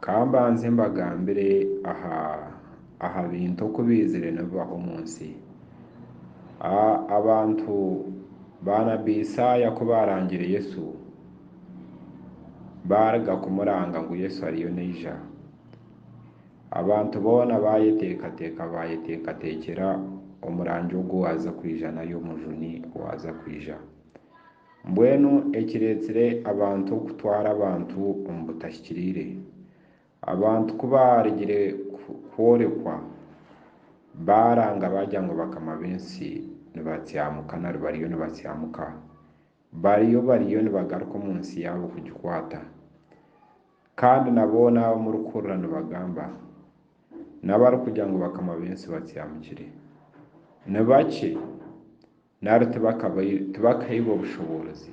Ka mbanze mbagambire aha aha bintu oku baizire nibibaho omu nsi. A Abantu baanabbi Isaaya ku baarangire Yesu, baarega kumuranga ngu Yesu ariyo naija. Abantu boona baayeteekateeka baayeteekateekyera omurangi ogu waaza kwija nari omujuni owaaza kwija. Mbwenu ekireetsire abantu kutwara abantu omu butahikiriire, abantu ku baaregire kworekwa, baaranga baagira ngu bakama b'ensi nibatsyamuka nari bariyo nibatsyamuka, bariyo bariyo nibagaruka omu nsi yaabo kugikwata. Kandi na boona aba murikuhurira nibagamba, n'abarikugira ngu bakama b'ensi batsyamukire, ni bakye. Nari tibakaba tibakahebwa obushoboorozi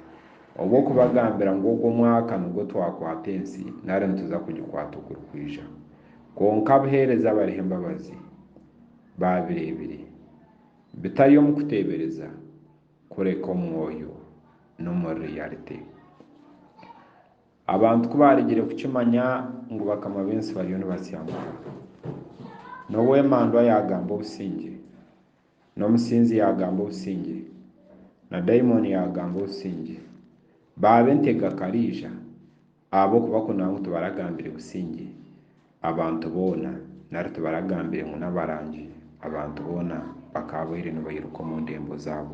obw'okubagambira ngu ogu omwaka nigwo twakwata ensi nari nituza kugikwata okurikwija. Kwonka abuheereza abariho embabazi baabireebire. Bitari omu kuteebereza, kureka omu mwoyo n'omuri reality. Abantu ku baaregire kukimanya ngu bakama b'ensi bariyo nibasyamura, n'obu emandwa yaagamba obusingye, N'omusinzi yaagamba obusingye, na daimoni yaagamba obusingye, baaba entega kariija abo ku bakunanga ngu tibaragambire busingye abantu boona, nari tibaragambire ngu n'abarangi abantu boona bakaabaire nibairuka omu ndembo zaabo.